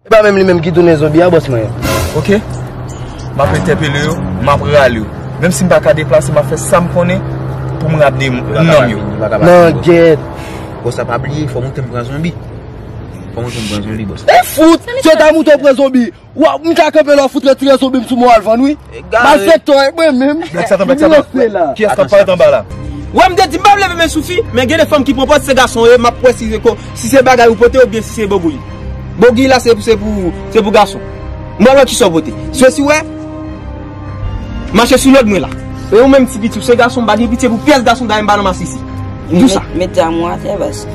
E pa menm li menm ki tounen zonbi a bòs mwen yo. Ok, m ap entèpele yo, m ap rale yo. Menm si m pa ka deplase, m ap fè sa m konnen pou m rable nanm yo. Langèt! Bòs a pa bliye, fò moute m pran zonbi. Fò moute m pran zonbi bòs. E fout! Sòlda moute m pran zonbi. Wa, m ka kanpe la w fout retire zonbi m sou mwen w al vann wi. Wè mte di m pap leve men sou fi men gen de fanm ki pran pòz se gason yo ye map wè si se bagay ou pote oubyen si se bogouy Bogouy la se pou gason Mwen wè kisa w pote Swesi wè Mache sou lòd mwen la E ou menm ti piti ou se gason m pa gen pitye pou pyès gason dayè m pa nan masisi Tout sa.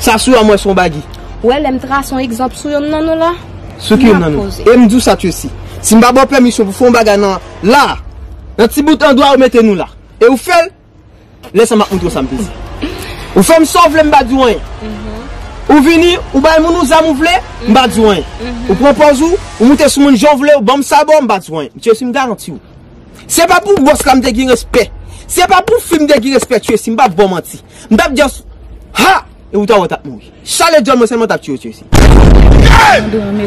Sa sou a mwen son bagy. Ou wè lèm trase yon egzanp sou yonn nan nou la? Sou ki yonn nan nou? Em di w sa Tracy. Si m pa ba w pèmisyon pou fè yon bagay nan la a, nan ti bout andwa ou mete nou la, e ou fè l, lè sa m ap montre w sa m vle di. Ou fè m sa w vle m pa di w anyen. Ou vini, ou bay moun ou zam ou vle, m pa di w anyen. Ou pran pòz ou, ou moute sou moun jan w vle, ou ban m sabò, m pa di w anyen. Tracy m garanti w. Se pa pou boss la m te gin respect. Se pa pou fi m te gin respect Tracy. M pap baw manti. M tap just Ha! E ou ta wè w tap mouri. Chale dyòl mwen selman tap tiye w Tracy. Yayy!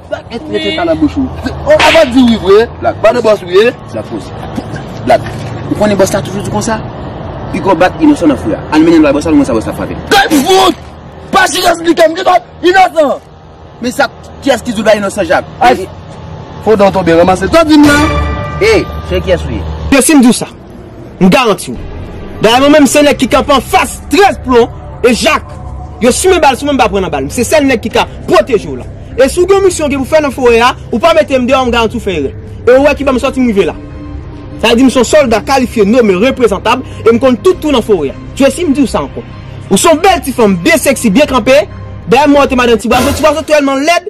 Black et mete sa nan bouch ou. Ou ava di wi vre. Black pa de boss ou ye. Sa fos. Black. Ou konnen boss la toujou di konsa. Pigo bat inosan nan fou ya. Al mennen l bay boss la nou wè sa boss la ap frape l. Tèt fout! Pa chita di ke m gen dwa inosan. Men sa kiyès ki di w bay inosan jak. Fo dan w tonbe ranmase. Sa w di m la? Hey, cheri kiyès ou ye? Yo si m di w sa. M garanti w. Dayè mwen menm se nèg ki kanpe an fas 13 plon e jak. Yo simen bal sou mwen m pa pran nan bal. M se sèl nèg ki ka pwoteje w la. E si w gen yon misyon w gen pou fè nan forè a, ou pa mete m deyò m garanti w fè erè. E ou wè ki bò m sòti m rive la. Sa vle di m se yon sòlda kalifye, nome, reprezantab e m konn tout twou nan forè a. Jesi m di w sa ankò. Ou se yon bèl ti fanm, byen seksi, byen kanpe. Dayè m wè w te madan Tibwazo. Tibwazo tèlman lèd.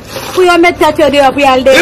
Pou yo met tet yo deyo pou yal dèyè.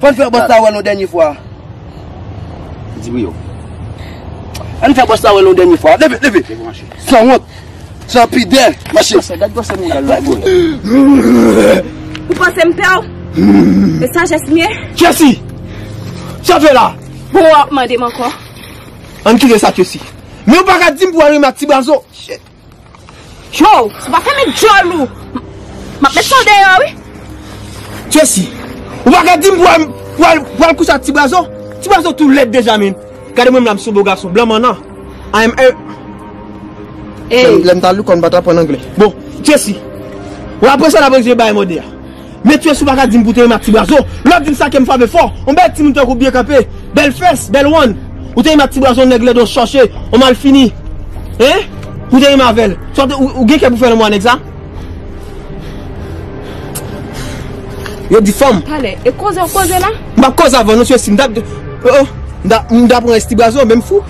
Fò n fè bòs la wè nou dènye fwa. Di wi yo. An n fè bòs la wè nou dènye fwa. Leve, leve. San wont. San pidè. Mache. Gwosè, gad gwosè mouda lwa boy. Ou panse m pè w? E sajès m ye? Chesi! Sa w fè la? Bon wè w ap mande m ankò. An n kite sa Chesi. Men ou pa ka di m pou w al renmen ak ti bazo. Shit. Joe, si w pa fèmen dyòl ou, m ap mete w deyò wi. Jesi, ou pa ka di m pou w al kouche ak ti brazo? Ti brazo tou lèd deja min. Gade mwen m la m sou bo gason, blan mannan. I am a. Lè m ta lou kò m pa ta aprann angle. Bon, Jesi, w apre sa n ap rezoud bagay mòde a. Metyee si w pa ka di m pou w te renmen ak ti brazo, lè w di m sa kè m frave fò, on bèl timoun tankou w byen kanpe, bèl fès, bèl wonn. Ou te renmen ak ti brazo on nèg lèd on chòche, on malfini. Hein? Ou te renmen avè l. Sa w te, ou gen kè pou w fè lanmou a nèg sa? Yo di fanm. Pale, e koze w koze la? M pa koze avè w non sye si m ta, oh oh, m ta pran esti brazo menm fou.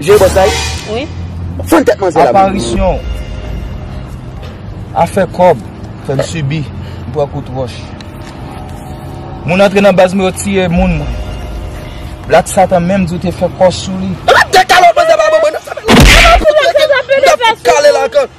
Jé boss la wi. Fann tèt manzè la. Aparisyon w. Afè kòb. Fè m sibi. M pran kout wòch. Moun antre nan baz mwen yo tiye moun mwen. Black Satan menm di w te fè kò sou li. Ala de kalot manzè vagabon nan. Ala de kalot manzè vagabon nan.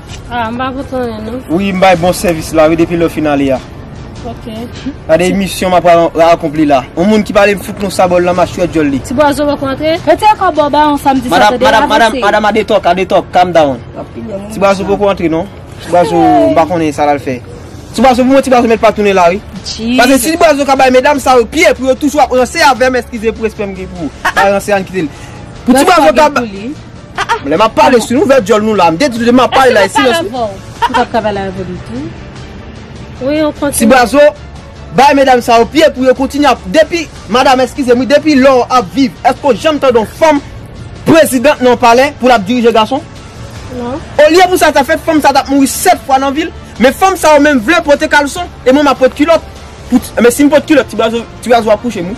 Ah m pa fout konnen non. Wi m bay bon sèvis la wi depi lè w fin ale a. Ok. Gade yon misyon m ap akonpli la. Yon moun ki pale m fout yon sabò l nan machwè dyòl li. Ti bwazo wè kontre. Mete yon kò bò bawon sa m di sa tande avanse. Madam, madam a detòk, a detòk, calm down. Ti bwazo poko antre non. Ti bwazo m pa konnen sa l al fè. Ti bwazo pou mwen ti bwazo mèt pa tounen la wi. Jesus. Pase si ti bwazo ka bay medam sa yo pye pou yo toujou ap ranse avè m eskize pou respè m gen pou ou. Pa ranse ann kite l. Pou ti bwazo ka. Lè map pale si nou vè dyòl nou la. M te di lè map pale la e silans ou. M pap ka pale avèw ditou. Ti Brazo, bay medam sa yo pye pou yo kontinye ap depi madam eskizem wi depi lè ou ap viv èske ou janm tande yon fanm prezidant nan yon palè pou lap dirije gason? Non. Olye pou sa ta fèt fanm sa tap mouri 7 fwa nan vil men fanm sa yo menm vle pote kalson e mwen map pot kilòt pou ti men si m pot kilòt ti Brazo Ti raz wap kouche m wi.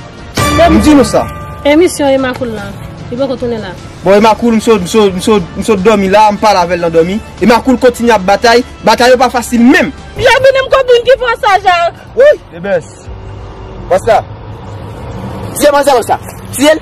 M di nou sa. Emisyon Emma Cool la. Li poko tounen la. Bon Emma Cool m sot domi la m pale avèl nan domi. Emma Cool kontinye ap batay. Batay yo pa fasil menm. Bienveni m konprann ki fwa sa Jacques. Wouyy. Ebens. What's up. Tiye manzè w sa. Tiye l.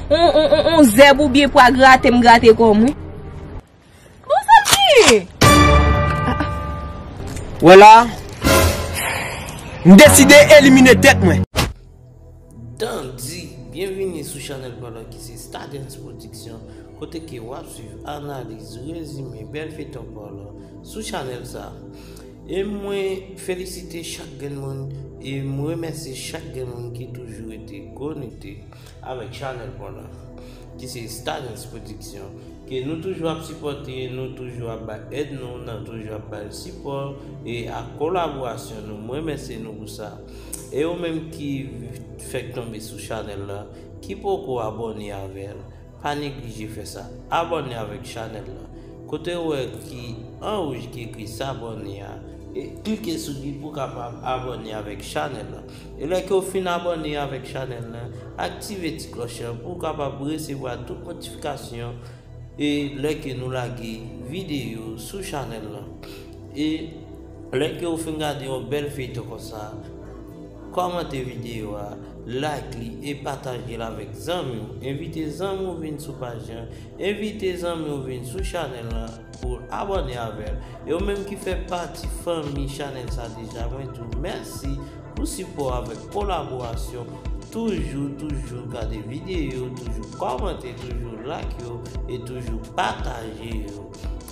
On zèb ou byen pwa grate m grate kò m wi. Bon sa p genyen? Ou wè la a? M deside elimine tèt mwen. Dandy, byenvini sou chanèl pa nou ki se Stardens Production, kote ke w ap swiv analiz, rezime, bèl feyton pa nou sou chanèl sa. E mwen felisite chak grenn moun e m remèsye chak grenn moun ki toujou rete konekte. avèk chanèl Pònòf ki se Stardens Production ke nou toujou ap sipòte, nou toujou ap bay èd nou, nap toujou ap bay sipò e ak kolaborasyon nou, m remèsye nou pou sa. E ou menm ki fèk tonbe sou chanèl la, ki poko abòne avèl, pa neglije fè sa, abòne avèk chanèl la, kote ou wè ki an wouj ki ekri sabòne a, e klike sou li pou kapab abòne avèk chanèl la. Yon lè ke w fin abòne avèk chanèl la, aktive ti klòch lan pou w kapab resevwa tout notifikasyon e lè ke nou lage videyo sou chanèl lan. E lè ke w fin gade yon bèl feyton konsa, kòmante videyo a, like li e pataje l avèk zanmi w, envite zanmi w vin sou paj lan, envite zanmi w vin sou chanèl lan. Pou abòne avèl. Yo menm ki fè pati fanmi chanèl sa deja mwen di w mèsi pou sipò avèk kolaborasyon toujou toujou gade videyo toujou kòmante toujou like yo e toujou pataje yo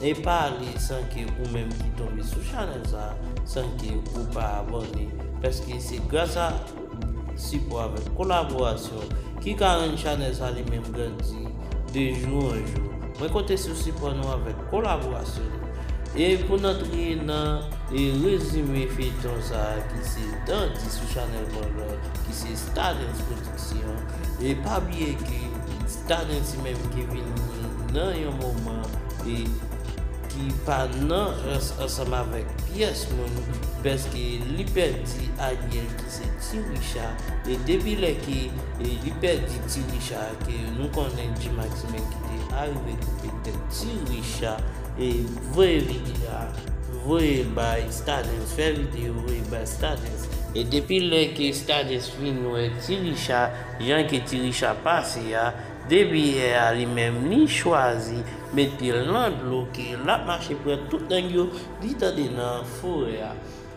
e pa ale san ke ou menm ki tonbe sou chanèl sa san ke ou pa abòne pèske se gras a Sipò avèk kolaborasyon ki ka rann chanèl sa li menm grandi de jou an jou. Mwen konte sou sipò nou avèk kolaborasyon nou. E pou n antre nan rezime feyton sa ki se Dandi sou chanèl Bolo ki se Stadens Production. E pa bliye ke Stadens li menm ki vini nan yon moman e ki pa nan rans ansanm avèk pyès moun pèske li pèdi Ariel. ki se ti Richa e depi lè ke li pèdi ti Richa ke nou konnen Gmaximen ki te arive koupe tèt ti Richa e voye vidya voye bay Stadens fè video voye bay Stadens e depi lè ke Stadens fin wè ti Richa jan ke ti Richa pase a depi yè a li menm li chwazi met pyel nan dlo ke lap mache pran tout nèg yo li tande nan forè a.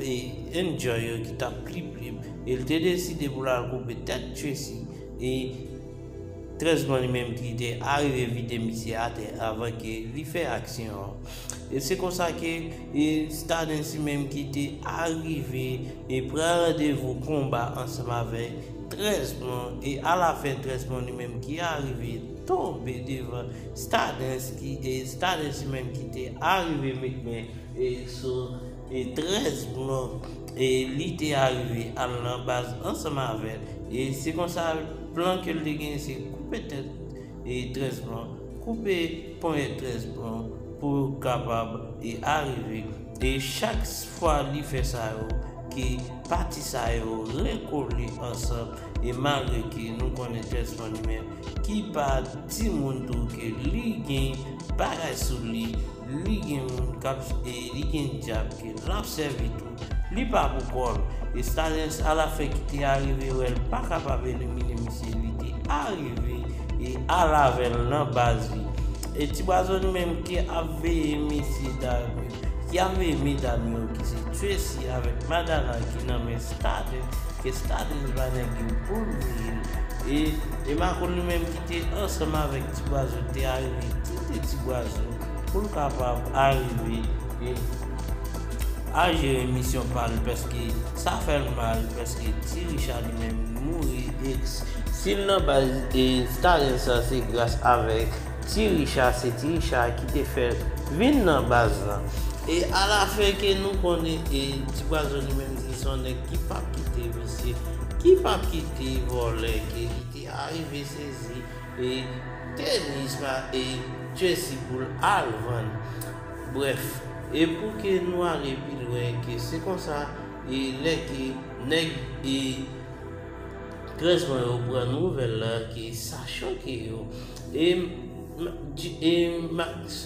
e enjoy yo ki tap trip li el te deside pou lal koupe tèt Tracy e trèzman li menm ki te arive vide misye atè avan ke li fè aksyon an e se konsa ke e Stardens li menm ki te arive e pran randevou konba ansanm avèk trèzman e ala fen trèzman li menm ki arive tonbe devan Stardens ki e Stardens li menm ki te arive met men e sou 13 blo e li te arive al nan baz ansanm avè l e se konsa plan ke l te genyen se koupe tèt 13 blo koupe ponyèt 13 blo pou yo kapab e arive e chak fwa li fè sa yo ke pati sa yo rekole ansanm e malgre ke nou konnen 13 fann men ki pa timoun tou ke li gen bagay sou li. Li gen moun kap e li gen dyab ke lap sèvi tou. Li pa pou kòl. E Staniens ala fè ki te arive wèl pa kapab elimine misye li te arive e al avèl nan baz li. E ti bwazo li menm ki ap veye mesye dam yo ki ap veye medam yo ki se Tracy avèk Madana ki nan men Staniens ke Staniens ba nèg yo poul veyel e e makoun li menm ki te ansanm avèk ti bwazo te arive tete ti bwazo pou l kapab arive e a jere misyon pa l paske sa fè l mal paske ti richa li menm li mouri e si l nan baz e talent sa se gras avèk ti richa se ti richa ki te fè l vin nan baz lan e a la fen ke nou konnen e ti bwazo li menm li son nèg ki pap kite visye ki pap kite vòlè ke li. Sa rive sezi e tenis pa e jersey poul al vann bref e pou ke nou ale pi lwen ke se konsa e lè ke nèg e tres bon yo pran nouvèl la ke sa choke yo e e max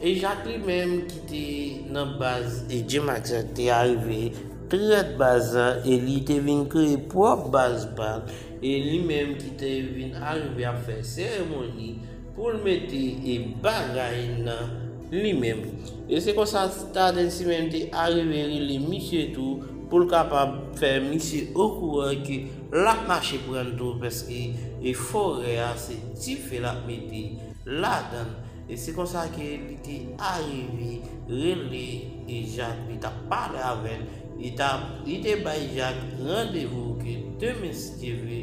E Jacques li menm ki te nan baz e Gmax la te arive trèt baz la e li te vin kreye pwòp baz pa l e li menm ki te vin arive ap fè seremoni pou l mete e bagay nan li menm. E se konsa Staden si menm te arive rele misye tou pou l kapab fè misye okouran ke l ap mache pran l tou paske e forè a se dife l ap mete ladan l. E se konsa ke li te arive rele e Jak li tap pale avèl, li ta li te bay Jak randevou ke demen si Dye vle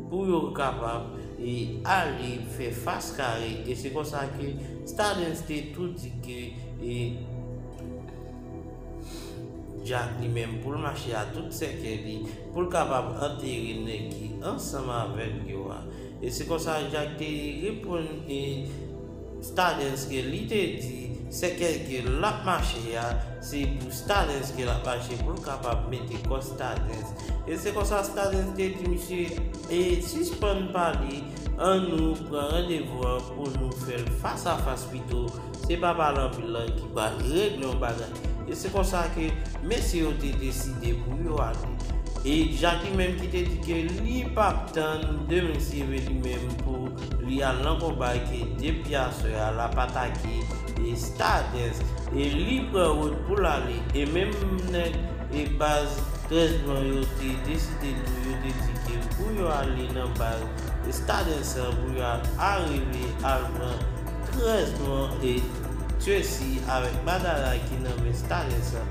pou yo kapab e ale fè fas kare e se konsa ke Stadens te tou di ke e Jak li menm poul mache a tout sèkè li poul kapab antere nèg ki ansanm avèl yo a. E se konsa Jak te reponn e Stadens ke li te di sèkèy ke l ap mache a, se pou Stadens ke l ap mache pou l kapab mete kò Stadens. E se konsa Stadens te di misye, e sispann pale, an nou pran randevou an pou nou fè l fas a fas pito, Se pa pale anpil lan ki pral regle yon bagay. E se konsa ke mesye yo te deside pou yo ale. E Jacky menm ki te di ke li pap tann de mesye men li menm pou li al lan konba e ke depi aswè a lap atake e Stardens. E li pran wout pou l ale. E menm nèg e baz 13 blan yo te deside tou yo te di ke pou yo ale nan baz Stardens lan pou yo al arive al pran 13 mwa e Tracy avèk Barbara ki nan men Stalin sa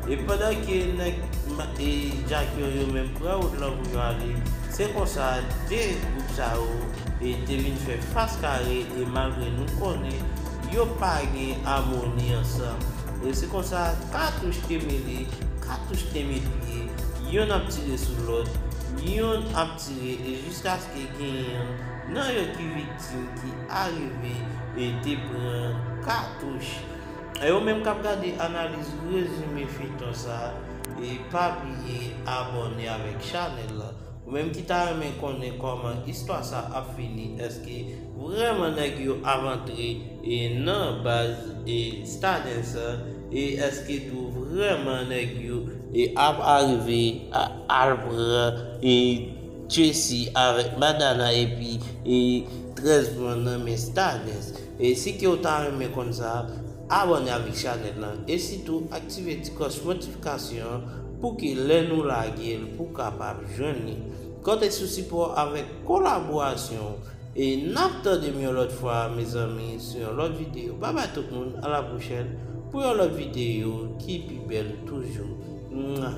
e pandan ke nèg Matt e Jack yo yo menm pran wout lan pou yo ale se konsa 2 gwoup sa yo e te vin fè fas kare e malgre nou konnen yo pa gen amoni ansanm e se konsa katouch te mele katouch te met pye yonn ap tire sou lòt yonn ap tire e jiskaske genyen nan yo ki viktim. Sil te arive e te pran katouch. Yo menm kap gade analiz rezime feyton sa e pa bliye abòne avèk chanèl lan ou menm ki ta renmen konnen kòman istwa sa ap fini èske vrèman nèg yo ap antre e nan baz e stadens an e èske tou vrèman nèg yo e ap arive al pran e Tracy avèk Madana epi 13 mwa nan men Stardens. Si kew ta renmen konn sa, abòne avèk chanèl lan e sitou aktive ti kòch notifikasyon an pouki lè nou lagel pou kapab jwenn li. Konte sou sipò avèk kolaborasyon w e nap tandem yon lòt fwa mezanmi sou yon lòt video. Babay tout moun a la pwochèn pou yon lòt video ki pi bèl toujou. Mwah.